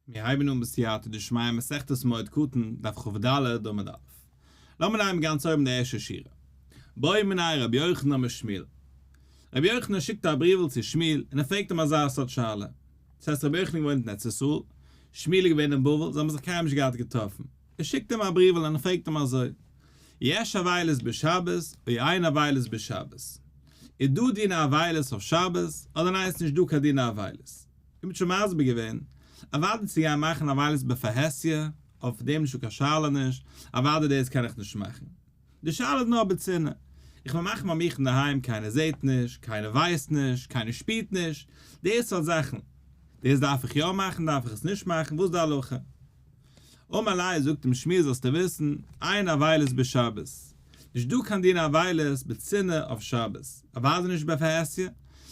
מיר הייבן אן בסייעתא דשמיא מסכת מועד קטן, דף כב ד, עמוד א'. לאמיר נעמען גאנץ אויבן די ערשטע שורה. בואי מנין רבי יוחנן משמעאל. רבי יוחנן שיקט א בריוול צו שמעאל און ער פרעגט אים אזא סארט שאלה. דאס הייסט רבי יוחנן איז געוואוינט אין ארץ ישראל, שמעאל איז געווען אין בבל, זיי האבן זיך קיינמאל נישט געהאט געטראפן. ער שיקט אים א בריוול און ער פרעגט אים אזוי, יש אבילות בשבת אוי אין אבילות בשבת? איז דא דינא אבילות אויף שבת אדער ניין איז נישט דא קיין דינא אבילות? איר האט שוין מסביר געווען? אוואדי צו גיין מאכן א מעלות בפרהסיא, אויף דעם נישט דא קיין שאלה נישט, אוואדי דאס קען איך נישט מאכן. די שאלה איז נאר בצנעה. איך וויל מאכן ביי מיך אינדערהיים קיינער זעהט נישט, קיינער ווייסט נישט, קיינער שפירט נישט, די סארט זאכן. דאס דארף איך יא מאכן, דארף איך עס נישט מאכן, וואס די הלכה? אמר ליה זאגט אים שמואל זאלסטו וויסן, אין אבילות בשבת, נישט דא קיין דין אבילות בצנעה אויף שבת, אוודאי נישט בפרהסיא,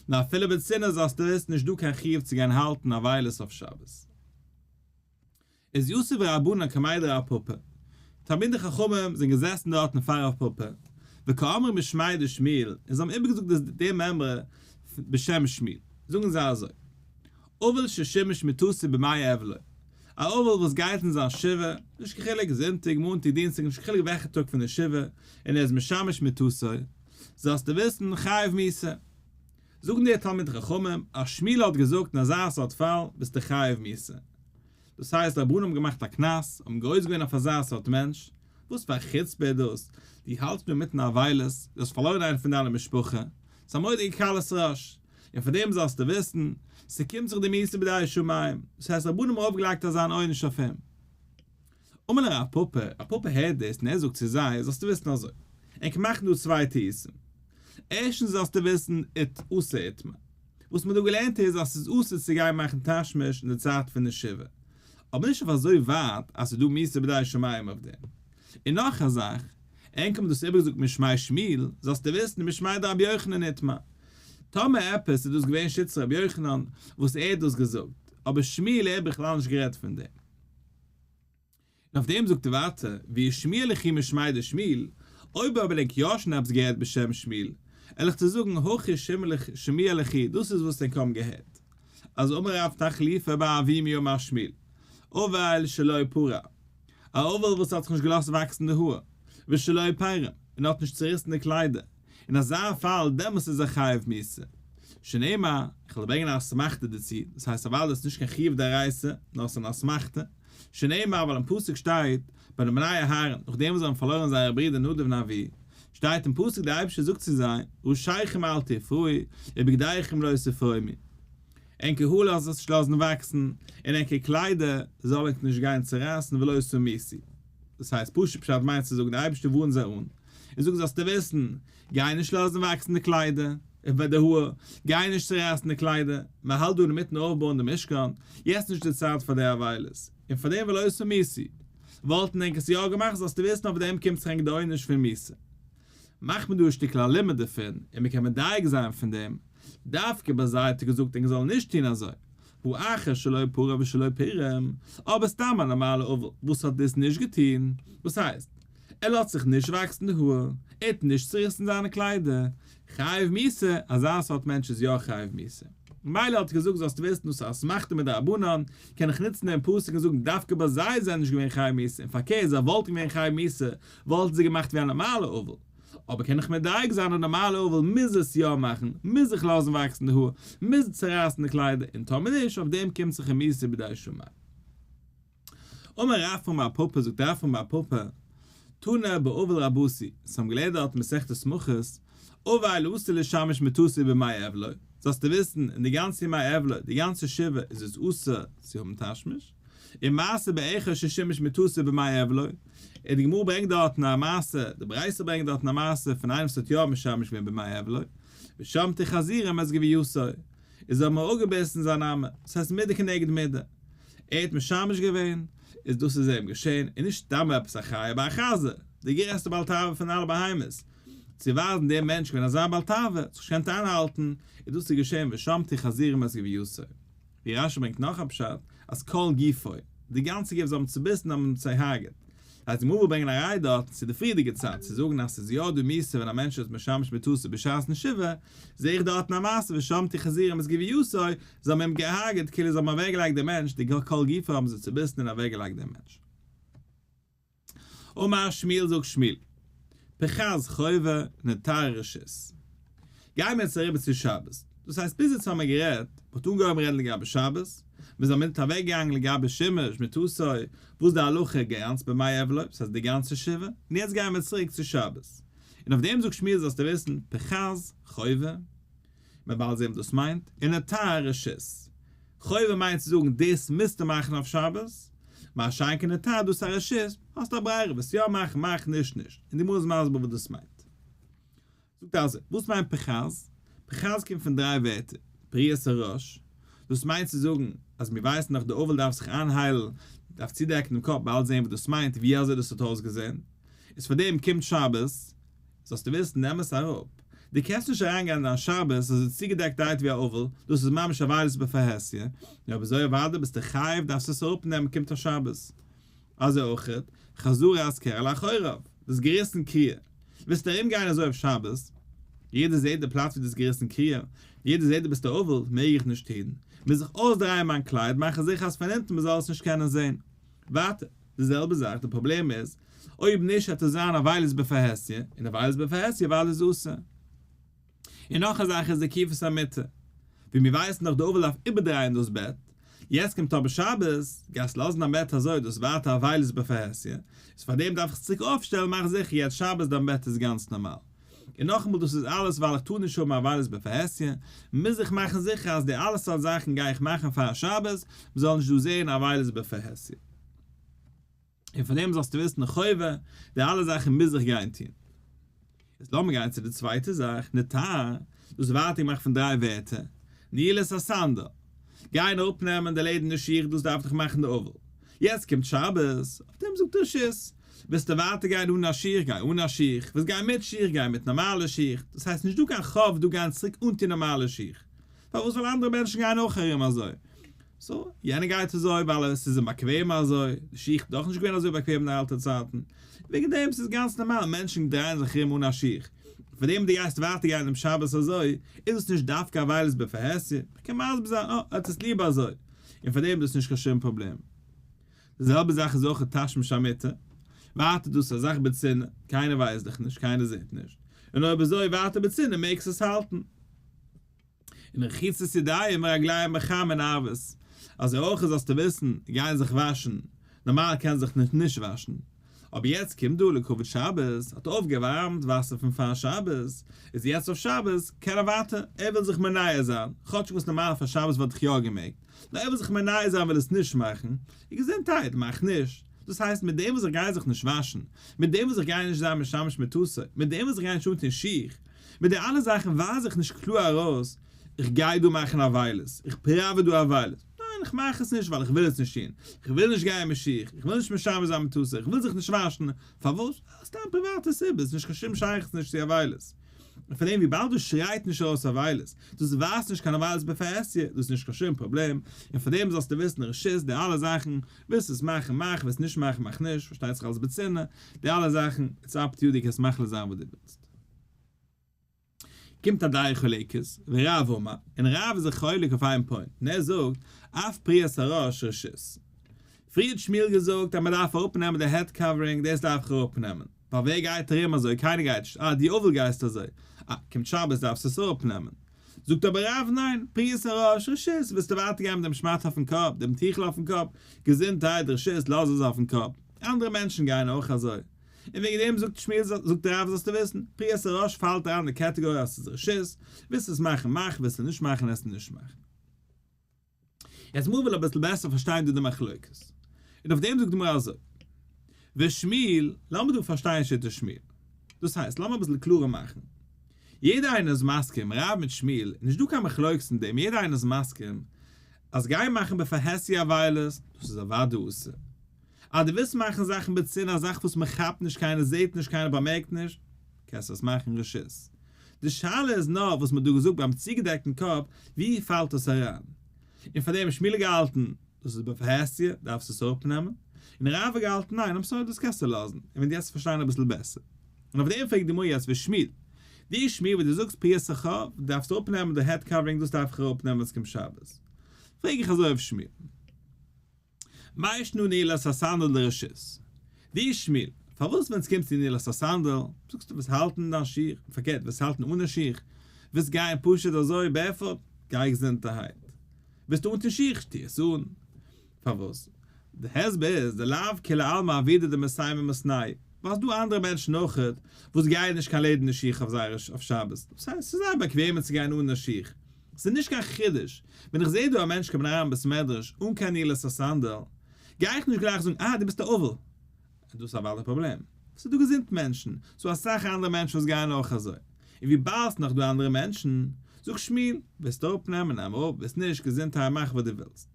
נאר אפילו בצנעה זאלסטו וויסן נישט דא קיין חיוב צו גיין האלטן אבילות אויף שבת. איז יוסף ורבנן כמאי דרב פפא, תלמידי חכמים זענען געזעסן דארטן פאר רב פפא, וכאמר משמאי דשמואל, און זיי האבן איבערגעזאגט דעם אמרה בשם שמואל, זאגן זיי אזוי, אבל ששימש מתוסה במאי עוולה, א אבל וואס גייט אין זיין שבעה, נישט קיין חילוק זונטאג, מאנטאג, דינסטאג, נישט קיין חילוק וועלכע טאג פון די שבעה, און ער איז משמש מתוסו, זאלסטו וויסן, חייב מיתה. זאגן די תלמידי חכמים, אז שמואל האט געזאגט אין אזא סארט פאל ביסטו חייב מיתה. דאס הייסט די רבנן האבן געמאכט א קנס, האבן גורס געווען אויף אזא סארט מענטש, וואס פאר א חוצפה איז דאס, דו האלטסט מיר מיטן אבילות, דו האסט פארלוירן איינעם פון דיינע משפחה, ס'איז א מודיע קלות ראש. און פון דעם זאלסטו וויסן, ס'קומט זיך די מעשה בידי שמים, דאס הייסט רבנים האבן אויפגעלייגט אזא אן עונש אויף אים. אמר להם א פאפא, א פאפא הערט דאס און ער זאגט צו זיי, זאלסטו וויסן אזוי, ענק מאכן דא צוויי טעותים, ערשטנס זאלסטו וויסן אית אסור איתמר, וואס מ'האט דא געלערנט איז אז ס'איז אסור צו גיין מאכן תשמיש אין די צייט פון די שבעה, אבער נישט אויף אזוי ווייט אז ס'איז דא מעשה בידי שמים אויף דעם. און נאך א זאך, ענק האבן דאס איבערגעזאגט משמי שמיל, זאלסטו וויסן משמי דרבי יוחנן איתמר, טאמער עפעס איז דאס געווען שטות רבי יוחנן וואס ער האט דאס געזאגט, אבער שמואל ער בכלל נישט גערעדט פון דעם. און אויף דעם זאגט ער ווייטער, ווי ישמעאל הכי משמעי דשמואל, אויב האב ענק יא שוין עפעס געהערט בשם שמואל, על איך צו זאגן הכי שמעאל הכי, דאס איז וואס ענק האבן געהערט, אז אמר רב תחליפה באביו מי אמר שמואל, אוועל שלא פרע, א אוועל וואס האט זיך נישט געלאזט וואקסן די האר, ושלא פרם, און האט נישט צוריסן די קליידער. אין אזא פאל דעמאלטס איז ער חייב מיתה. שנאמר, איך וועל ברענגען א אסמכתא דערצו, דאס הייסט א ווייל עס איז נישט קיין חיוב דאורייתא, נאר עס איז אן אסמכתא, שנאמר, ווייל אין פסוק שטייט, ביי די בני אהרן, נאכדעם וואס זיי האבן פארלוירן זייער ברודער נדב און אביהוא, שטייט אין פסוק דער אייבערשטער זאגט צו זיי, ראשיכם אל תפרוי, ובגדיכם לא תפרוימי. ענקער האר לאזט זיך נישט לאזן וואקסן, און ענקער קליידער זאל ענק נישט גיין צערייסן ולא תמיסי. דאס הייסט פשוט פשט מיינט צו זאגן דער אייבערשטער ווארנט זיי אן, איך זאג זאלסטו וויסן, גיי נישט לאזן וואקסן די קליידער, איבער די האר, גיי נישט צורייסן די קליידער, מען האלט דא אינמיטן אויפבויען די משכן, יעצט נישט די צייט פאר די עוולות, און פאר דעם ולא עשה מיסי, וואלטן ענק עס יא געמאכט, זאלסטו וויסן אויף דעם קומט זיך ענק די עונש פון מיסי. מאכט מען דא א שטיקל א לימוד דערפון, און מען קען מדייק זיין פון דעם, דווקא באזייטיגט געזאגט ענק זאלן נישט טון אזוי, הוא אחר שלא פרע ושלא פירם, אבער סתם א נארמאלע אבל וואס האט דאס נישט געטון, וואס הייסט? ער לאזט זיך נישט וואקסן די האר, ער טוט נישט צוריסן זיינע קליידער, חייב מיתה, אזא סארט מענטש איז יא חייב מיתה. מילא האט ער געזאגט זאלסט וויסן דאס איז א אסמכתא מדרבנן, קען איך נוצן דעם פסוק און זאגן דווקא ביי זיי איז ער נישט געווען חייב מיתה, און פארקערט זיי וואלטן געווען חייב מיתה וואלטן זיי געמאכט ווי א נארמאלע אבל, אבער קען איך מדייק זיין א נארמאלע אבל מוז עס יא מאכן, מוז איך לאזן וואקסן די האר, מוז איך צורייסן די קליידער, און טאמער נישט, אויף דעם קומט זיך רמיסה בידי שמים. אמר רב פון בר פפא זאגט רב פון בר פפא, תנא באבל רבותי, זיי האבן געלערנט דארט מסכת שמחות, אווי לא אסור לשמש מטוסי בימי אבל, זאלסטו וויסן אין די גאנצע ימי אבל, די גאנצע שבעה איז עס אסור צו האבן תשמיש, און מעשה באחד ששימש מתוסף במאי עבלו, און די גמרא ברענגט דארטן א מעשה, די ברייתא ברענגט דארטן א מעשה פון איינעם וואס האט יא משמש געווען במאי עבלו, ושמטה חזירים עס געווען יסור, איז האבן מיר אפגעביסן זיין אמה, דאס הייסט מידה כנגד מידה, ער האט משמש געווען, איז דאס איז אים געשען, און נישט סתם עפעס א חיה ביי א חזיר, די גרעסטע בעל תאווה פון אלע בהמות, צו ווייזן דער מענטש געווען אזא בעל תאווה, זיך נישט געקענט איינהאלטן, איז דאס איז געשען ושמטה חזירים עס געווען יסור. ווי רשי ברענגט נאך א פשט אז כל גופו, די גאנצע גוף זאל האבן צוביסן האט מען אים צעהרגעט. הייסט די מובא ברענגען א ראי' דארט צו די פריערדיגע צד צו זאגן אז ס'איז יא דא מוסר ווען א מענטש איז משמש מיתתו בשעת נשיבה, זעה איך דארט אין א מעשה ושמתי חזירים את גוויותו, זיי האבן אים געהרגעט כאילו זיי האבן אוועקגעלייגט דעם מענטש, די כל גופו האבן זיי צוביסן און אוועקגעלייגט דעם מענטש. אמר שמואל זאגט שמואל פרחז חובה נטר רשות גייען מיר יעצט אריבער צו שבת דאס הייסט ביז יעצט האמיר גערעדט מען האט אנגעהויבן רעדן לגבי שבת מיר זענען מיט אוועק געגאנגען לגבי שמש מיט עשוי וואס די הלכה גאנץ במאי עוולוי סאיז די גאנצע שבעה און יעצט גייען מיר צוריק צו שבת און אויף דעם זאגט שמואל זאלסטו וויסן פרחז חובה מען בעלט זעהן וואס דאס מיינט, און א תר רשות. חובה מיינט צו זאגן דאס מוזטו מאכן אויף שבת, מה שאין כן א תר דאס א רשות, האסט א ברירה וועסט יא מאכן מאך נישט נישט, און די גמרא איז מסביר וואס דאס מיינט. זאגט אלזא, וואס מיינט פחז? פחז קומט פון דריי ווערטער, פריעת הראש, דאס מיינט צו זאגן אז מיר ווייסן דאך די אבל דארף זיך איינהיילן, דארף צודעקן דעם קאפ, בעלט זעהן וואס דאס מיינט, ווי אזוי דאס האט אויסגעזעהן, איז פאר דעם קומט שבת, זאלסט דו ווילסט נעם עס אראפ, דו קענסט נישט אריין גיין אין דיין שבת אז עס איז צוגעדעקט דיירעקט ווי א אוועל, דאס איז ממש עבודת בפרהסיא, נו אבער זוי אוודאי ביסטו חייב דארפסטו עס אראפ נעמען קומט א שבת. אזוי אויכעט, חזור אז קרע לאחוריו, דאס געריסן קריעה, ווילסטו ארום גיין אזוי אויף שבת, יעדער זעט די פלאץ ווי דאס געריסן קריעה, יעדער זעט דו ביסט א אוועל, מעג איך נישט טון, מוז איך אויסדרייען מיין קלייד מאכן זיכער אז פון אונטן מען זאל עס נישט קענען זען. ווייטער, די זעלבע זאך, די פראבלעם איז אויב נישט וועט עס זיין עוולות בפרהסיא, און עוולות בפרהסיא ווייל איז אסור. און נאך א זאך איז די עקיפת המיטה. ווי מיר ווייסן דאך די עוול אויף איבערדרייען דאס בעט. יעצט קומט אבער שבת, גייסט לאזן דיין בעט אזוי, דאס ווייטער עוולות בפרהסיא, איז פאר דעם דארף איך צוריק אויפשטעלן, מאך זיכער יעצט שבת דיין בעט איז גאנץ נארמאל. און נאכאמאל דאס איז אלעס ווייל איך טאר נישט האבן עוולות בפרהסיא, מוז איך מאכן זיכער אז די אלע סארט זאכן גיי איך מאכן פאר שבת, מ'זאל נישט דא זען עוולות בפרהסיא. און פון דעם זאלסטו וויסן די חובה, די אלע זאכן מוז איך גיין טון. יעצט לאמיר גיין צו די צווייטע זאך, נטר, דאס ווייטאג מאכט פון דריי ווערטער, נעילת הסנדל, גיין אראפנעמען די לעדערנע שיך, דאס דארף דיך מאכן די אבל. יעצט קומט שבת, אויף דעם זאגט רש י, ווילסטו ווייטער גיין אן א שיך, גיי אן א שיך, ווילסט גיין מיט שיך, גיי מיט נארמאלע שיך, דאס הייסט נישטא קיין חוב דא גיין צוריק אנטון נארמאלע שיך, פארוואס זאלן אנדערע מענטשן גיין אויך ארום אזוי? סאו, יענער גייט אזוי ווייל עס איז אים באקוועם אזוי, די שיך איז דאך נישט געווען אזוי באקוועם אין די אלטע צייטן, וועגן דעם ס'איז גאנץ נארמאל מענטשן דרייען זיך ארום אן א שיך, פאר דעם וואס דו גייסט ווייטער גיין אום שבת אזוי, איז דאס נישט דווקא א ווייל איז בפרהסיא, מ'קען מסביר זיין אה, ער האט עס ליעב אזוי, און פאר דעם איז דאס נישט קיין שום פראבלעם. די זעלבע זאך איז אויך תשמיש המיטה, ווייטער איז דאס א זאך בצנעה, קיינער ווייסט דיך נישט, קיינער זעט נישט, און אויב אזוי ווייטער בצנעה מעגסט עס האלטן. און רחיצת ידיים ורגליים בחם און ערבות, אזוי אויך זאלסטו וויסן, גייען זיך וואשן, נארמאל קען זיך נישט נישט וואשן, אבער יעצט קומט דא לכבוד שבת, האט אויפגעווארעמט וואסער פון פאר שבת, איז יעצט אויף שבת, קען ער ווייטער, ער וויל זיך מנער זיין, כאטשיג וואס נארמאל פאר שבת וואלט איך יא געמעגט, נאר ער וויל זיך מנער זיין וויל עס נישט מאכן, און געזונטהייט מאכט נישט, דאס הייסט מיט דעם וואס איך גיי זיך נישט וואשן, מיט דעם וואס איך גיי נישט זיין משמש מיט טוסער, מיט דעם וואס איך גיי נישט אנטון שיך, מיט די אלע זאכן ווייז איך נישט קלאר ארויס, איך גיי דא מאכן אבילות, איך פראווע דא אבילות. ניין, איך מאך עס נישט ווייל איך וויל עס נישט טון. איך וויל נישט גיין מיט שיך, איך וויל נישט משמש זיין מיט טוסער, איך וויל זיך נישט וואשן. פארוואס? סתם פריוואטע סיבות, נישט קיין שום שייכות נישט צו אבילות. און פארדעם וויבאלד דאס שרייט נישט ארויס אבילות, דאס ווייזט נישט קיין אבילות בפעסיא, דאס איז נישט קיין שום פראבלעם. און פארדעם זאלסטו וויסן רשות די אלע זאכן, ווילסט עס מאכן מאך, ווילסט נישט מאכן מאך נישט, פארשטייט זיך אלס בצנעה, די אלע זאכן איטס אפ טו יו דו קענסט מחליט זיין וואס דו ווילסט. קומט א דיין חולקת ורב אמר, און רב איז זיך חולק אויף איין פוינט, און ער זאגט, אף פריעת הראש רשות. פריער האט שמואל געזאגט אז מען דארף אראפ נעמען די העד קאווערינג, דאס דארף איך אראפ נעמען, ווייל ווער גייט ארום אזוי, קיינער גייט נישט, אה דו אבל גייסט אזוי, אה קומט שבת דארפסטו עס אראפ נעמען. זאגט אבער רב ניין, פריעת הראש רשות, ווילסטו ווייטער גיין מיט דעם שמאטע אויפן קאפ, דעם טיכל אויפן קאפ, געזונטהייט רשות, לאז עס אויפן קאפ, אנדערע מענטשן גייען אויך אזוי, און וועגן דעם זאגט שמואל זאגט דער רב זאלסטו וויסן, פרי עשר ראש פאלט אריין אין די קעטעגארי אז עס איז רשות, ווילסט עס מאכן מאך, ווילסט עס נישט מאכן עסט עס נישט מאכן. יעצט מווויל אביסל בעסער פארשטיין דא די מחלוקת, און אויף דעם זאגט די גמרא אזוי, ושמואל, לאמיר דא פארשטיין שיטת שמואל, דאס הייסט לאמיר אביסל קלארער מאכן, יעדער איינער איז מסכים, רב מיט שמואל, איז נישט דא קיין מחלוקת אין דעם, יעדער איינער איז מסכים, אז גיין מאכן בפרהסיא וויילערס, דאס איז אוודאי אסור. אז דו ווילסט מאכן זאכן בצנעה, א זאך וואס מען כאפט נישט, קיינער זעט נישט, קיינער באמערקט נישט, קענסטו עס מאכן רשות. די שאלה איז נאר, וואס מען האט דא געזאגט ביים צוגעדעקטן קאפ, ווי פאלט דאס אריין? און פאר דעם האט שמואלי געהאלטן, דאס איז בפרהסיא, דארפסטו עס אראפנעמען, און רבא האט געהאלטן, ניין, איים סארי, דאס קענסטו לאזן, און ווען דו העסט עס פארשטיין אביסל בעסער. און אויף דעם פרעגט די גמרא יעצט ווי שמואל, ווי שמואל וואס דו זאגסט פריסת חוב, דארפסטו אראפנעמען די העד קאווערינג, דאס דארף איך אראפנעמען ווען עס קומט שבת. פרעג איך אזוי אויף שמואל. מה ישנו נעילת הסנדל לרשות? ווי איז שמואל? פארוואס ווען עס קומט צו נעילת הסנדל, זאגסטו וועסט האלטן דיין שיך, פארקערט וועסט האלטן אן א שיך, וועסט גייען פשוט אזוי בערפוט, גיי געזונטערהייט, ביסטו אנטון שיך, טוה עס אן. פארוואס? די הסבר איז די לאו כולי עלמא אבידה דמסיימי מסניי, ווייל ס'איז דא אנדערע מענטשן אויכעט וואס גייען נישט קיין לעדערנע שיך אויף זייערע אויף שבת, דאס הייסט ס'איז זייער באקוועמער צו גיין אן א שיך, ס'איז נישט קיין חידוש, ווען איך זעה דא א מענטש קומען אריין אין בית מדרש אן קיין נעילס און סענדעל, גיי איך נישט גלייך זאגן אה דו ביסט א אבל. דאס איז א וואליד פראבלעם. ס'איז דא געזונט מענטשן, ס'דא אסאך אנדערע מענטשן וואס גייען אויך אזוי. און וויבאלד ס'איז נאך דא אנדערע מענטשן, זאג שמואל, ווילסט אראפ נעמען נעם אראפ, ווילסט נישט געזונטהייט מאך וואס דו ווילסט.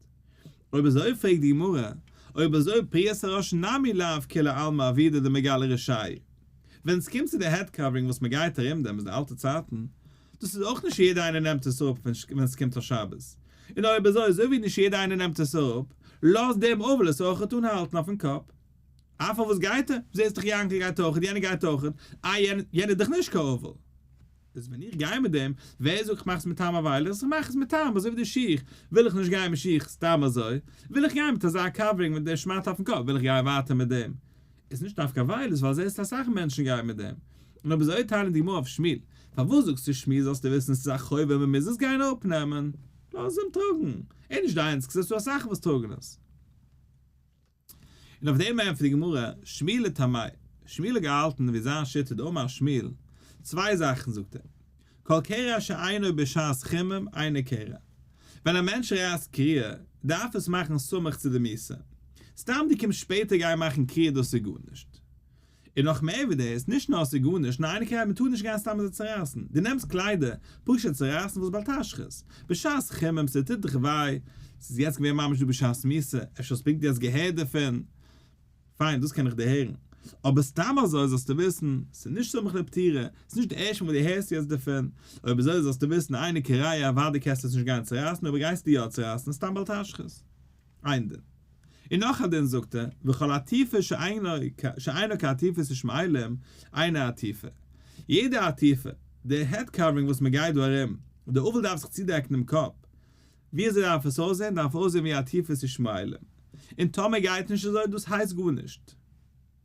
אויב אזוי פרעגט די גמרא, אויב אזוי פריעת הראש נמי לאו כולא עלמא אבידא דמגלה רשעי. ווען ס'קומט צו די העד קאווערינג וואס מ'גייט ארום דעם זינט אלטע צייטן, דאס איז אויך נישט יעדער איינער נעמט עס אפ ווען עס קומט א שבת. און אויב אזוי אזוי ווי נישט יעדער איינער נעמט עס אפ, לאז דעם עוול עס אויכעט אנהאלטן אויפן קאפ. אה פארוואס גייט ער? זעהסט דאך יענקל גייט אויכעט, יענער גייט אויכעט, אה יענער יענער איז דאך נישט קיין עוול. איז ווען איך גיי מיט דעם, ווער זאגט איך מאך עס מיט טעם אווי איך זיך מאך עס מיט טעם אזוי ווי די שיך, וויל איך נישט גיין מיט שיך סתם אזוי, וויל איך גיין מיט אזא קאווערינג מיט די שמאטע אויפן קאפ, וויל איך גיין ווייטער מיט דעם. איז נישט דווקא ווייל איז ווייל זעסט אז אסאך מענטשן גייען מיט דעם. און אויב איז אויך טיילען די גמרא אויף שמיל. פארוואס זאגסטו שמיל זאלסטו וויסן עס איז א חובה מען מוז עס גיין אפנעמען. לאז אים טראגן. איז נישט דיינס כזעסט דא אסאך וואס טראגן עס. און אויף דעם ענטפערט די גמרא שמיל לטעמי'. שמיל האט געהאלטן ווי זיין שיטה דאמר שמיל צוויי זאכן זאגט ער. כל קרע שאינו בשעת חימום אינו קרע. ווען א מענטש רייסט קריעה, דארף עס מאכן סמוך צו די מיסה. סתם דו קומסט שפעטער גיין מאכן קריעה דאס איז גארנישט. און נאך מער ווי דאס, נישט נאר עס איז גארנישט, נאר אינו קרע, מען טאר נישט גיין סתם אזוי צורייסן. דו נעמסט קליידער, פשוט צורייסן וואס בעל תשחית. בשעת חימום, ס'טוט דיך וויי, ס'איז יעצט געווען ממש דא בשעת מיסה, אפשר האסט פונקט יעצט געהערט דערפון. פיין, דאס קען איך דיר הערן. אבער סתם אזוי זאלסטו וויסן, ס'איז נישט סמוך לפטירה, ס'איז נישט די ערשטע מאל וואס דו הערסט יעצט דערפון, אויב אזוי זאלסטו וויסן איינע קריה אוודאי קענסטו עס נישט גיין צורייסן אויב גייסטו יא צורייסן איז סתם בל תשחית. איין דין. און נאך א דין זאגט ער, וכל עטיפה שאינה כעטיפת ישמעאלים אינה עטיפה. יעדע עטיפה, די העד קאווערינג וואס מ'גייט דא ארום, די אבל דארף זיך צודעקן דעם קאפ, וויאזוי דארף עס אויסזען? דארף אויסזען ווי א טיפע ס'שמיילים. און טאמער גייט נישט אזוי, דאס הייסט גארנישט.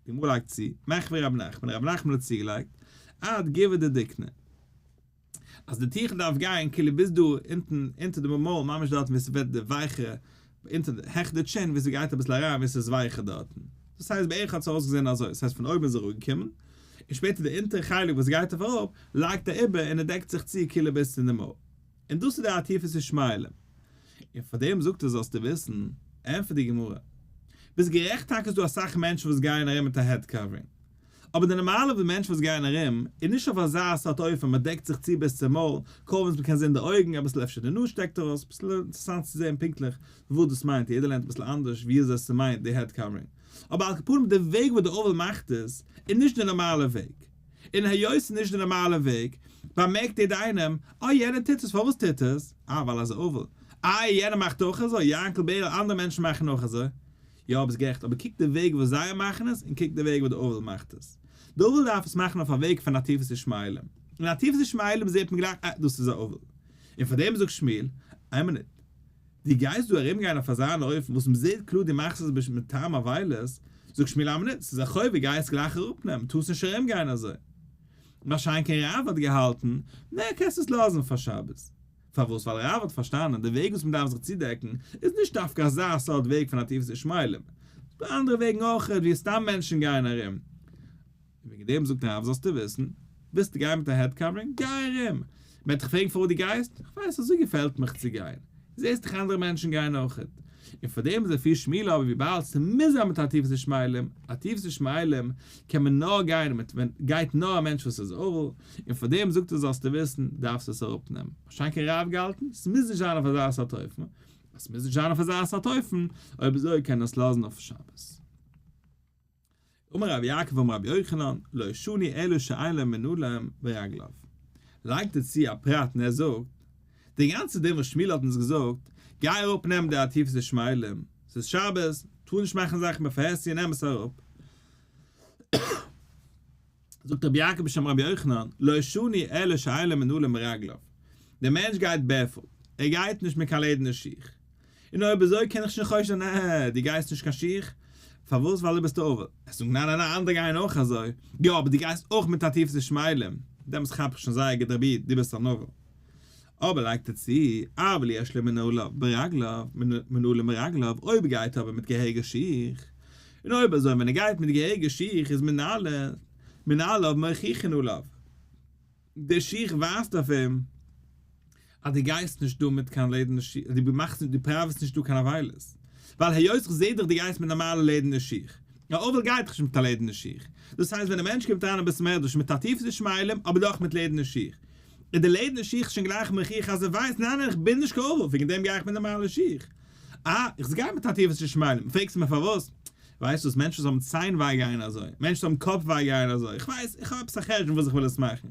די גמרא לייגט צו, מעכ פ רבי נחמן, רבי נחמן האט צוגעלייגט, עד גב' דדיקנא, אז די טיכל דארף גיין כאילו ביז דא אונטן אונטער די מויל ממש דארטן ווי ס'ווערט די ווייכע אונטער העכער די טשין ווי ס'גייט אביסל אריין ווי ס'איז ווייכער דארטן. דאס הייסט בערך האט עס אויסגעזען אזוי, דאס הייסט פון אויבן איז ער אראפגעקומען, און שפעטער די אונטערע חלק וואס גייט אויף אראפ לייגט ער איבער און ער דעקט זיך צו כאילו ביז צו די מויל. און דאס איז דער עטיפת ישמעאלים. און פאר דעם זאגט ער זאלסטו וויסן, ענטפערט די גמרא, ביסט גערעכט טאקע איז דא אסאך מענטשן וואס גייען ארום מיט א העד קאווערינג, אבער די נארמאלע ווי מענטשן וואס גייען ארום, איז נישט אויף אזא סארט אופן, מען דעקט זיך צו ביז צום מויל, קוים וואס מען קען זען די אויגן, אביסל אפשר די נאז שטעקט ארויס, אביסל אינטערעסאנט צו זען פונקטליך וואס דאס מיינט, יעדער לערנט אביסל אנדערש ווי אזוי עס מיינט די העד קאווערינג, אבער על כפנים די וועג וואס די אוהל מאכט עס, איז נישט די נארמאלע וועג. און היות ס'איז נישט די נארמאלע וועג, באמערקט איעדע איינעם, אה יענער טוט עס, פארוואס טוט ער עס? אה ווייל אזוי אוואו. אה יענער מאכט אויך אזוי, יענקל בערל אנדערע מענטשן מאכן אויך אזוי. יא ביסט גערעכט, אבער קוק די וועג וואס זיי מאכן עס און קוק די וועג וואס די אויוועל מאכט עס. די אויוועל דארף עס מאכן אויף א וועג פון עטיפת ישמעאלים. און עטיפת ישמעאלים זעהט מען גלייך אה דאס איז א אויוועל. און פארדעם זאגט שמואל, איין מינוט, דו גייסט דא ארום גיין אויף אזא אן אופן וואס מען זעהט קלאר דו מאכסט עס בשביל טעם אבילות, זאגסט מיר למה ניט, ס'איז א חובה גייסט גלייך אראפ נעמען, טארסט נישט ארום גיין אזוי. מה שאין כן רב האט געהאלטן, נע קענסט עס לאזן פאר שבת. פארוואס? ווייל רב האט פארשטאנען די וועג וואס מען דארף זיך צודעקן איז נישט דווקא אזא סארט וועג פון עטיפת ישמעאלים, ס'דא אנדערע וועגן אויכעט ווי סתם מענטשן גייען ארום, און וועגן דעם זאגט הרב זאלסטו וויסן, ווילסטו גיין מיט א העד קאווערינג? גיי ארום! מ'עט דיך פרעגן פארוואס דו גייסט? איך ווייס, אזוי געפעלט מיך צו גיין. זעהסט דאך אנדערע מענטשן גייען אויכעט. און פאר דעם איז דא פיל שמאלע אבער וויבאלד ס'מוז זיין מיט א טיפע ס'שמיילים, א טיפע ס'שמיילים קען מען נאר גיין מיט ווען גייט נאר א מענטש וואס איז ערל, און פאר דעם זאגט ער זאלסטו וויסן, דארפסט עס אראפ נעמען. האט שוין קיין רב געהאלטן? ס'מוז נישט זיין אויף אזא סארט אופן. אז ס'מוז נישט זיין אויף אזא סארט אופן, אויב אזוי קען ער עס לאזן אויף שבת. אמר רבי יעקב אמר רבי יוחנן, לא ישני אלא שאין להם מנעולים ברגליו. לייגט ער צו א פרט און ער זאגט, די גאנצע דין וואס שמואל האט אונז געזאגט, גיי אראפ נעם די עטיפת ישמעאלים, ס'איז שבת, טאר נישט מאכן זאכן בעפאר עסן און נעם עס אראפ, זאגט רבי יעקב בשם רבי יוחנן, לא שני אלא שאלה מנעלה מרגליו, דער מענטש גייט בערפוט, ער גייט נישט מיט קיין לעדערנע שיך, און אויב אזוי קען איך שוין חושש זיין, עה, דו גייסט נישט קיין שיך? פארוואס? ווייל דו ביסט עובר. ער זאגט, ניין ניין ניין, אנדערע גייען אויך אזוי, יא, אבער דו גייסט אויך מיט עטיפת ישמעאלים, דעמאלטס כאפ איך שוין זייער גוט רבי, דו ביסט אן עובר. אבער לייגט ער צו, אבל יש לו מנעוליו ברגליו, מנעולים ברגליו, אויב גייט ער אבער מיט געהעריגע שיך, און אויב אזוי ווען ער גייט מיט געהעריגע שיך איז מנעליו, מנעליו מוכיחין עליו, די שיך ווייזט אויף אים אז דו גייסט נישט דא מיט קיין לעדערנע שיך, דו מאכסט נישט, דו פראוועסט נישט דא קיין עוולות, ווייל היות איך זעה דיך דו גייסט מיט נארמאלע לעדערנע שיך, א אבל גייט דאך נישט מיט א לעדערנע שיך, דאס הייסט ווען א מענטש קומט אריין אין בית המדרש מיט א טיפע די שמיילים אבער דאך מיט לעדערנע שיך, איז די לעדענע שיך שוין גלייך מוכיח אז ער ווייסט, ניין איך בין נישט קרוב, וועגן דעם גיי איך מיט נארמאלע שיך. אה, איך זיץ גאר מיט א טיפע צושמייעלען, פרעגסט מיר פארוואס? ווייסט וואס, מענטשן וואס האבן ציין וויי גייען אזוי, מענטשן וואס האבן קאפ וויי גייען אזוי, איך ווייס, איך האב עפעס א חשבון וואס איך וויל עס מאכן.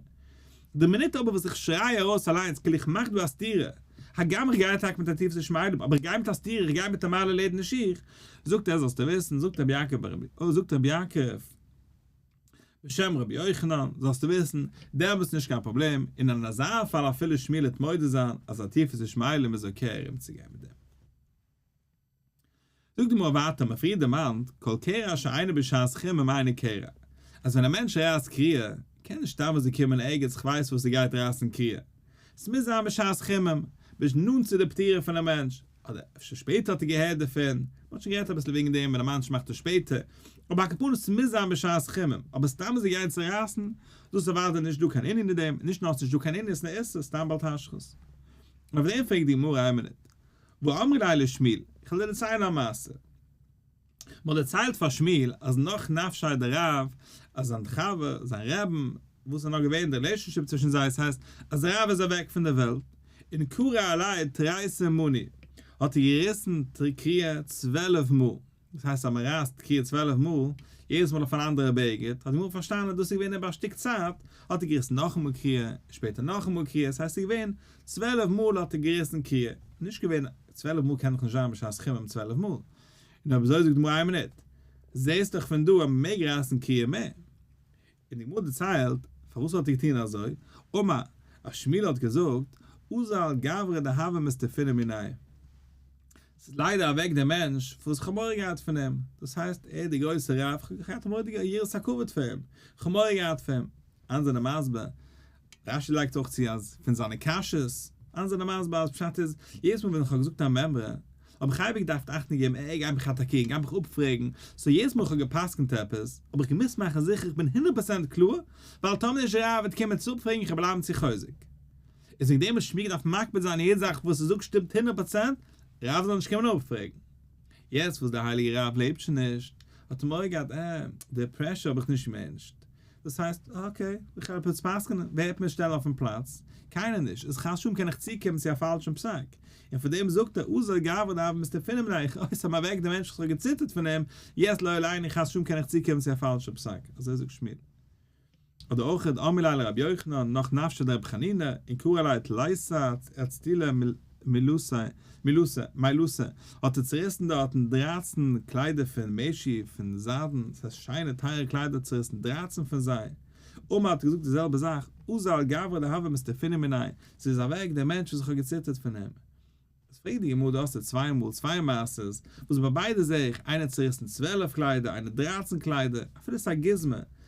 די מינוט אבער וואס איך שריי ארויס אליינס כאילו איך מאך דא א סתירה, הגם איך גיי טאקע מיט א טיפע צושמייעלען, אבער איך גיי מיט א סתירה, איך גיי מיט נארמאלע לעדענע שיך, זאגט ער, זאלסטו וויסן, זאגט רבי יעקב, זאגט רבי יעקב, בשם רבי יוחנן, זאלסטו וויסן, דער האט נישט קיין פראבלעם, און אין אזא פאל אפילו שמילות מודה זיין אז א טיף איז נישט מיילים איז אקעי ארום צו גיין מיט דעם. זאגט די גמרא ווייטער מען פריער דערמאנט, כל קריאה שאינה בשעת חום הם אינו קורא, אז ווען א מענטש רייסט קריאה, קען נישט סתם אזוי קומען ערגעץ כ'ווייס וואס ער גייט רייסן קריאה, ס'מוז זיין בשעת חום הם, נאנט צו די פטירה פון א מענטש, אדער אפשר שפעטער האט ער געהערט דערפון, מען האט שוין גערעדט אביסל וועגן דעם ווען א מאנטש מאכט עס שפעטער, אבער א כפרה עס מוז זיין בשעת חימום, אבער סתם זיך גיין צורייסן, דאס איז אוודאי נישט דא קיין ענין אין דעם, און נישט נאר ס'נישט דא קיין ענין, ס'איז א איסור, סתם בעל תשחית. און אויף דעם פרעגט די גמרא איין מינוט, ואמרי ליה לשמואל, איך וועל דיר דערציילן א מעשה, מ'האט דערציילט פאר שמואל אז נאך נפשי' די רב, אז זיין חבר, זיין רעבן, וואס איז נאר געווען די רילעישאנשיפ צווישן זיי, ס'הייסט אז די רב איז אוועק פון די וועלט, און קרא עלי תריסר מני, האט ער געריסן תקריע צוועלף מאל, דאס הייסט אז מ'רייסט תקריע צוועלף מאל, יעדעס מאל אויף אן אנדערע בעגד, האט די גמרא פארשטאנען אז דאס איז געווען איבער א שטיק צייט, האט ער געריסן נאכאמאל קריע, און שפעטער נאכאמאל קריע, ס'הייסט ס'איז געווען צוועלף מאל האט ער געריסן קריע, נישט געווען צוועלף מאל קען דאך נישט זיין בשעת חימום צוועלף מאל. נו אבער אזוי זאגט די גמרא איין מינוט, זעהסט דאך פון דא אז מען מעג רייסן קריעה מ, און די גמרא דערציילט פארוואס האט ער געטוהן אזוי, אמר ר' שמואל האט געזאגט, אזל גברא דהוה מסתפינא מיניה, ס'איז ליידער אוועק דער מענטש וואס כ'האב מורא געהאט פון אים, דאס הייסט ער איז דער גרויסער רב, כ'האב געהאט א מורא'דיגע יראת הכבוד פאר אים, כ'האב מורא געהאט פון אים, אנדערע זענען מסביר רש י לייגט אויך צו אז פון זיינע קשיות, איינס זענען מסביר אז פשט איז, יעדעס מאל ווען איך האב געזאגט א מימרא, האב איך אייביג געדארפט אכטונג געבן אה ער גייט מיך אטאקירן, גייט מיך אפפרעגן, סאו יעדעס מאל איך האב גע'פסק'נט עפעס, האב איך געמוזט מאכן זיכער איך בין הונדערט פראצענט קלאר, ווייל טאמער נישט רב וועט קומען צו אפפרעגן איך וועל בלייבן צו חוזק. איז וועגן דעם האב איך מיר געדארפט מקפיד זיין יעדע זאך וואס איך זאג שטימט הונדערט פראצענט, רב זאל נישט קומען אפפרעגן. יעצט וואס דער הייליגער רב לעבט שוין נישט, האט ער מורא געהאט אה, די פרעשור האב איך נישט געמענטשט, דאס הייסט, אקעי, איך הער עפעס פסק'נען, ווער וועט מיר שטעלן אויפן פלאץ? קיינער נישט, איז כאשאם קען איך צוקומען צו א פאלשן פסק? און פאר דעם זאגט ער, אזוי גאוה דאב מיסטער פונעם רייך, אוי ס'האב מיר אוועק די מענטשן איך האב געציטערט פון אים, יעצט לא עלינו, כאשאם קען איך צוקומען צו א פאלשן פסק, אזוי זאגט שמואל. אדער אויך, אמר ליה לרבי יוחנן, נח נפשא דרבי חנינא, און קרא ליה תלייסא, ערצטילא, מילוסע, מילוסע, מיילוסע, האָט ער צעריסן דאָרטן דרײַצן קליידער פֿון מעשי, פֿון זײַדן, דאָס הייסט, שיינע, טײַערע קליידער, צעריסן דרײַצן פֿון זיי. אָמאָל האָט ער געזאָגט די זעלבע זאַך, אָזאַ אַ גברא דהוה מסתּפּינים מיני, זי איז אַוועק, דער מענטש, וואָס איך האָב געציטערט פֿון אים. איז פֿרעגט די גמרא, דאָ האָסטו צוויי מאָל, צוויי מעשׂות, וואָס ביי ביידע זע איך, איינער צעריסן צוועלף קליידער, איינער דרײַצן קליידער, אַפֿילו ס'איז אַ גוזמא,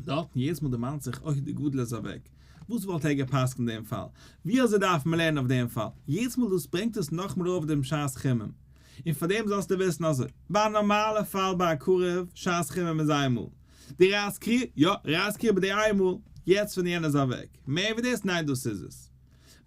דארטן יעדעס מאל דערמאנט זיך אוי די גדול איז אוועק וואס וואלט ער געפסקנט דעם פאל ווי אזוי דארף מען לערנען אויף דעם פאל יעדעס מאל דאס ברענגט עס נאכמער אויף דעם שעת חימום און פאר דעם זאלסטו וויסן אזוי ביי א נארמאלע פאל ביי א קרוב שעת חימום איז איין מאל די רייס קריער יא רייס קריער ביי די איין מאל יעצט ווען יענער איז אוועק מער ווי דאס ניין דאס איז עס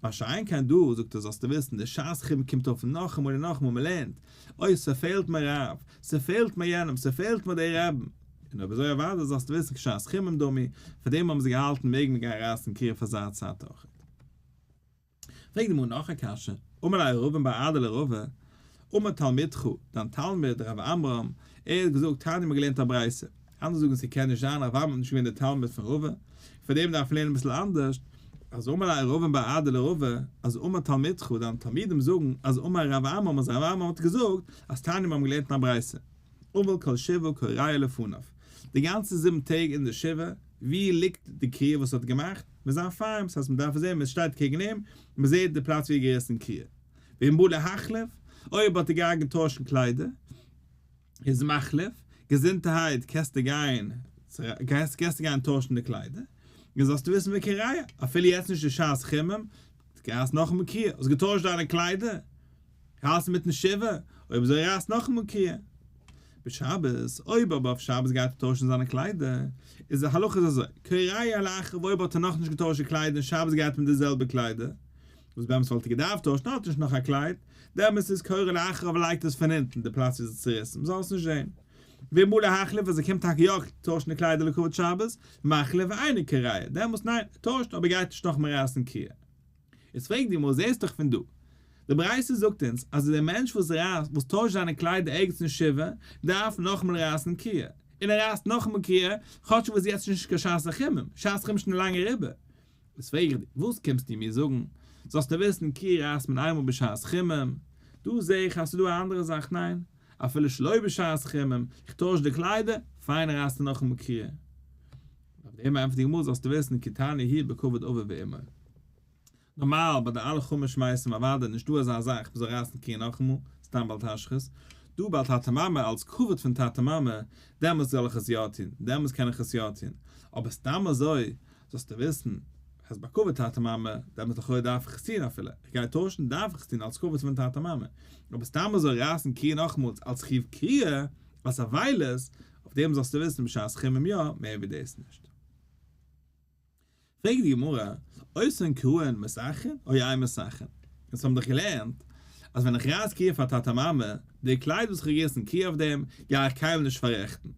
מה שאין כן דא, זאגט ער זאלסטו וויסן, די שעת חירום קומט אויף נאכאמאל און נאכאמאל, מען לערנט, אוי ס'פעלט מיר רב, ס'פעלט מיר יענעם, ס'פעלט מיר די רעבן, און אויב אזוי אוודאי זאלסטו וויסן כשעת חירום דומי, פאר דעם האבן זיי געהאלטן מעג מען גיין רייסן קרית פאר זייער צייט אויכעט. פרעגט די גמרא נאך א קשיא, אמר לה ר' ראובן בר אדא לרבה, אמר תלמידך, דיין תלמיד ר' אברהם, ער האט געזאגט, תניא מיר געלערנט א ברייתא, אנדערע זאגן ס'קען נישט זיין אברהם איז נישט געווען דער תלמיד פון ראובן, און פאר דעם דארף מען לערנען אביסל אנדערש, אז אמר לה ראובן בר עדה לראובן, אז אמר תלמידך, דיינע תלמידים זאגן, אז אמר ר' אברהם אז ר' אברהם האט געזאגט, אז תענית מיר האבן געלערנט אין א ברייתא, אבל כל שבעה כל ראיה לפניו, די גאנצע זיבן טעג אין די שבעה, ווי ליגט די קריעה וואס ער האט געמאכט? מיט זיין פארעם, ס'הייסט מען דארף זען, מען שטייט קעגן אים, מען זעט די פלאץ ווי ער האט געריסן קריעה. ואם בא להחליף, אויב האט ער געהאט געטוישן קליידער, איז מחליף, געזונטערהייט קענסטו גיין קענסטו גיין טוישן די קליידער, און זאלסטו וויסן ווי קריה, אפילו יעצט נישט בשעת חימום, רייס נאכאמאל קריה, האסט געטוישט דיינע קליידער, האלטסט מיטן שבעה, אויב אזוי רייס נאכאמאל קריה. בשבת, אויב אבער אויף שבת גייט ער טוישן זיינע קליידער, איז די הלכה איז אזוי, קריה לאחר ואויב האט ער נאכנישט געטוישט די קליידער און שבת גייט מיט די זעלבע קליידער, וואס באמת וואלט ער געדארפט טוישן, ער האט נישט נאך א קלייד, די אמת איז קורא לאחר אבער לייגט עס פון אונטן, די פלאץ איז צוריסן, מ'זאל עס נישט זען. ואמור להחליף אז ער קומט טאקע יא טוישן די קליידער לכבוד שבת, מחליף ואינו קורא, דעמאלס ניין, ער טוישט אבער גייט נישט נאכמער רייסן קריעה. איז פרעגט די גמרא, זעסט דאך פון דא, די ברייתא זאגט אונז אז דער מענטש וואס רייסט, וואס טוישט זיינע קליידער ערגעץ אין שבעה, דארף נאכאמאל רייסן קריעה, און ער רייסט נאכאמאל קריעה, כאטש ער וואס יעצט איז נישט קיין שעת החימום, שעת חימום איז שוין לאנג אריבער, וואס פרעג איך דיר? וואס קומסטו מיר זאגן? זאלסטו וויסן כי רעית מן עמו בשעת חימום, דא זע איך אז ס'איז דא א אנדערע זאך, ניין? אפילו שלא בשעת חימום, איך טויש די קליידער, פיין רייסטו נאכאמאל קריעה. אויף דעם ענטפערט די גמרא זאלסטו וויסן כי תענה היא בכבוד אביו ואמו. נארמאל ביי די אלע חומר שמייסן אוודאי נישט דא אזא זאך מ'זאל רייסן קריעה נאכאמאל, סתם בל תשחית, דא בל תטה מאמי אלץ כבוד פון טאטע מאמע, דעמאלטס זאל איך עס יא טון, דעמאלטס קען איך עס יא טון, אבער סתם אזוי זאלסטו וויסן אז ביי כבוד טאטע מאמע דעמאלטס לכאורה דארף איך עס טון אפילו איך גיי טוישן דארף איך עס טון אלס כבוד פון טאטע מאמע, אבער סתם אזוי רייסן קריעה נאכמאלס אלס חיוב קריעה, אלס אבילות, אויף דעם זאלסטו וויסן בשעת חימום יא, מער ווי דאס נישט. פרעגט די גמרא, אוסרין קרוהן מסכין אוי איין מסכין? אונז האבן דאך געלערנט אז ווען איך רייס קריעה פאר טאטע מאמע, די קלייד וואס איך האב געריסן קריעה אויף דעם, גיי איך קיינמאל נישט פאררעכטן,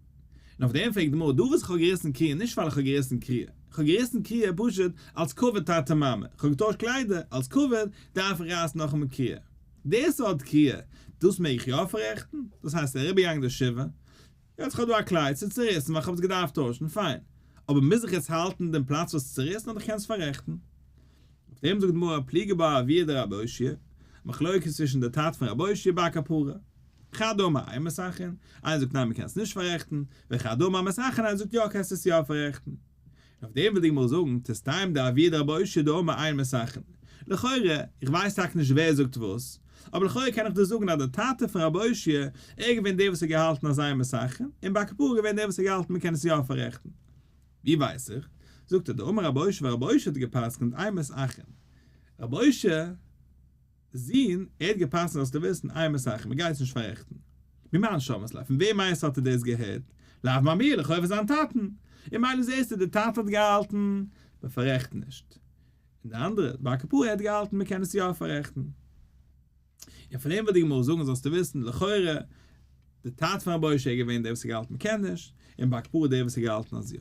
און אויף דעם פרעגט די גמרא דא וואס איך האב געריסן קריעה נישט ווייל איך האב געריסן קריעה, איך האב געריסן קריעה פשוט אלס כבוד טאטע מאמע, איך האב געטוישט קליידער, אלס כבוד דארף איך רייסן נאכאמאל קריעה. די סארט קריעה, דאס מעג איך יא פאררעכטן? דאס הייסט איך אריבערגעגאנגען די שבעה, יעצט איך האב דא א קלייד, ס'איז צוריסן ווייל איך האב עס געדארפט טוישן, פיין, אבער מוז איך עס האלטן אין דעם פלאץ וואס ס'איז צוריסן אדער איך קען עס פאררעכטן? אויף דעם זאגט די גמרא פליגי בה אביה דרבי אושי', מחלוקת צווישן די טאטע פון רבי אושי' בעל כפרה, חדא אמר איין מסכין, איינער זאגט ניין מ'קען עס נישט פאררעכטן, וחדא אמר מסכין איינער זאגט יא קענסט עס יא פאררעכטן. אויף דעם וויל די גמרא זאגן, תסתיים דעביד רבא אשי דא אמר איין מסכין. לכאורה, איך ווייס טאקע נישט ווער זאגט וואס, אבער לכאורה קען איך דא זאגן אז דער טאטע פון רבי אשי, ער איז געווען דער וואס האט געהאלטן אז איין מסכין, און בעל קפרה איז געווען דער וואס האט געהאלטן מ'קען עס יא פאררעכטן. ווי ווייס איך? זאגט ער דא אמר רבי אשי ווייל רבי אשי האט גע'פסק'נט איין מסכין. רבי אשי זין, ער האט געפסקנט זאלסטו וויסן איין מסכים ער גייט עס נישט פארעכטן. ממה נשמעת ליה? פון וועם מיינסטו האט ער דאס געהערט? לאו מאמיר, לכאו' פון זיין טאטן. און מילא זעסטו דער טאטע האט געהאלטן מען פארעכט נישט, און די אנדערע בר קפרא האט געהאלטן מען קען עס יא פארעכטן. און פון דעם וועט די גמרא זאגן זאלסטו וויסן לכאורה דער טאטע פון רבי ש איז געווען דער וואס האט געהאלטן מען קען נישט, און בר קפרא דער וואס האט געהאלטן אז יא.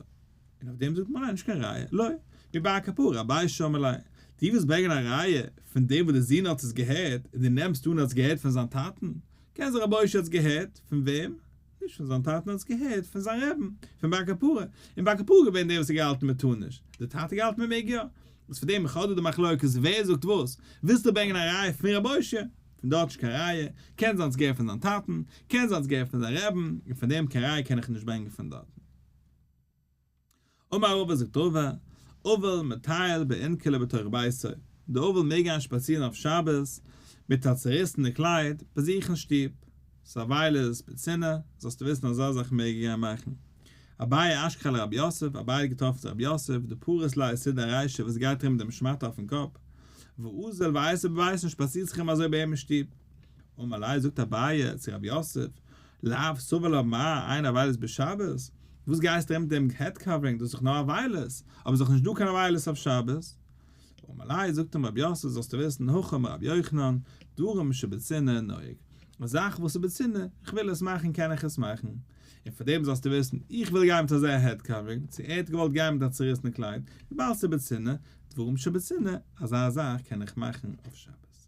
און אויף דעם זאגט מען ניין נישט קיין ראיה, לא מי בעי הכפרה אביי שאמר ליה, די ווילסט ברענגען א ראיה פון דעם וואס די זון האט עס געהערט און די נעמסט אן ער האט עס געהערט פון זיין טאטן, קען זיין רבוש ע האט עס געהערט פון וועם? נישט פון זיין טאטן ער האט עס געהערט פון זיין רעבן פון בעי הכפרה, און בעי הכפרה איז געווען דער וואס האט געהאלטן מען טאר נישט, די טאטע האט געהאלטן מען מעג יא, איז פון דעם חדר די מחלוקת ווער זאגט וואס, ווילסטו ברענגען א ראיה פון רבוש ע, פון דארט נישט קיין ראיה, קען זיין האט עס געהערט פון זיין טאטן, קען זיין האט עס געהערט פון זיין רעבן, און פון דעם קיין ראיה קען איך נישט ברענגען פון דארטן. אמר רבא זאגט רבא, אבל מטייל בענקעלע בתוך ביתו, דער אבל מעג גיין שפאצירן אויף שבת מיט א צעריסענע קלייד ביי זיך אין שטוב, ס'איז א וויילער'ס פיצינא, זאלסטו וויסן אזא זאך מעג ער גיין מאכן. אביי אשכ ל רבי יוסף, אביי האט געטראפן צו רבי יוסף, דו פארעסט ליי עסיד א ריישע וואס גייט ארום מיט דעם שמאטע אויפן קאפ, ואוזל ווייסע בווייסן שפאצירט זיך אים אזוי ביי אים אין שטוב. אמר ליה זאגט אביי צו רבי יוסף, לאו סבא לא מע, איין אבילות בשבת? וואס גייסטו ארום מיט דעם העד קאווערינג, דאס איז דאך נאר אבילות, אבער ס'דאך נישט דא קיין אבילות אויף שבת. אמר ליה, זאגט אים רבי יוסף, זאלסטו וויסן, הכא מרבי יוחנן, דברים שבצנעה נוהג, א זאך וואס איז בצנעה, כ'וויל עס מאכן קען איך עס מאכן. און פאר דעם זאלסטו וויסן, איך וויל גיין מיט אזא העד קאווערינג, צו ער האט געוואלט גיין מיט א צוריסן קלייד, וויבאלד ס'איז בצנעה, דברים שבצנעה, אזא זאך קען איך מאכן אויף שבת.